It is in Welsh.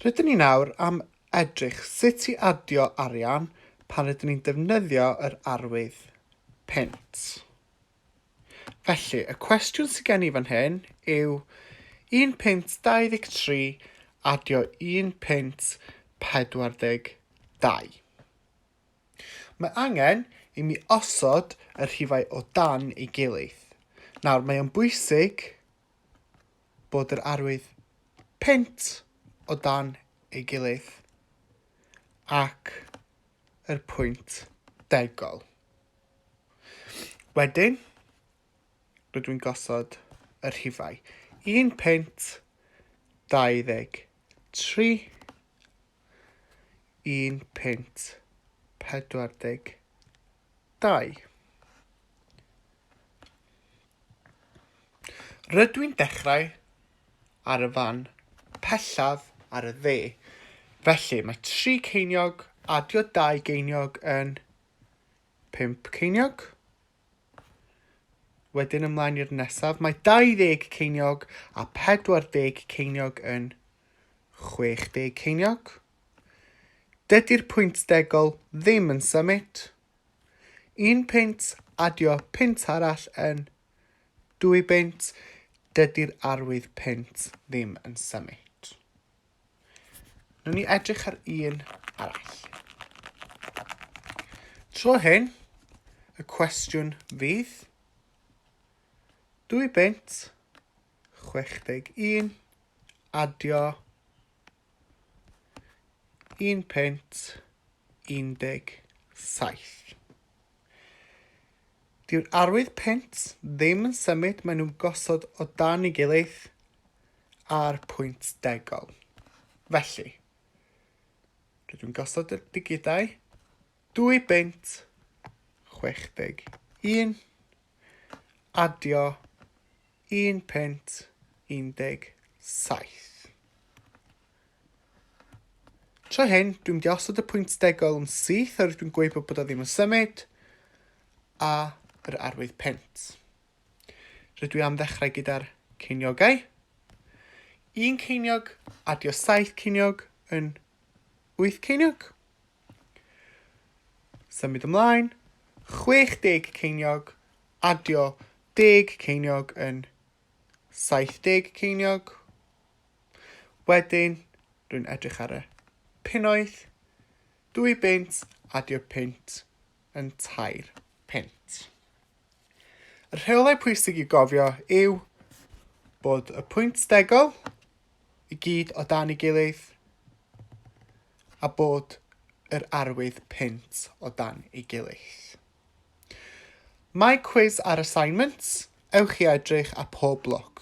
Rydyn ni nawr am edrych sut i adio arian pan rydyn ni'n defnyddio yr arwydd punt. Felly, y cwestiwn sydd gen i fan hyn yw 1 punt 23 adio 1 punt 42. Mae angen i mi osod y rhifau o dan ei gilydd. Nawr, mae'n bwysig bod yr arwydd punt o dan ei gilydd ac yr pwynt degol. Wedyn, rydw i'n gosod y rhifau. Un punt, 23, un punt, 42. Rydw i'n dechrau ar y fan pellaf ar y dde. Felly, mae tri ceiniog, adio dau geiniog yn pump ceiniog. Wedyn ymlaen i'r nesaf, mae 20 ceiniog a 40 ceiniog yn 60 ceiniog. Dydy'r pwynt degol ddim yn symud. Un peint, adio peint arall yn dwy beint, dydy'r arwydd peint ddim yn symud. Nw'n ni edrych ar un arall. Tro hyn, y cwestiwn fydd dwy beint, 61, adio Un punt un deg saith. Dyw'r arwydd punt ddim yn symud, maen nhw'n gosod o dan ei gilydd a'r pwynt degol. Felly, rydw i'n gosod y digidau 2 bunt 61, adio Un punt un deg saith. Tro hyn, dwi'n mynd i osod y pwynt degol yn syth oherwydd dwi'n gweud bod o ddim yn symud, a yr arwydd punt. Rydw i am ddechrau gyda'r ceiniogau. Un ceiniog, adio saith ceiniog yn wyth ceiniog. Symud ymlaen, 60 ceiniog, Adio deg ceiniog yn saith deg ceiniog. Wedyn, rwy'n edrych ar y punnoedd. Dwy bunt, adio punt yn tair punt. Y rheolau pwysig i gofio yw bod y pwynt degol i gyd o dan ei gilydd a bod yr arwydd punt o dan ei gilydd. Mae cwis ar assignments, ewch i edrych ar pob lwc.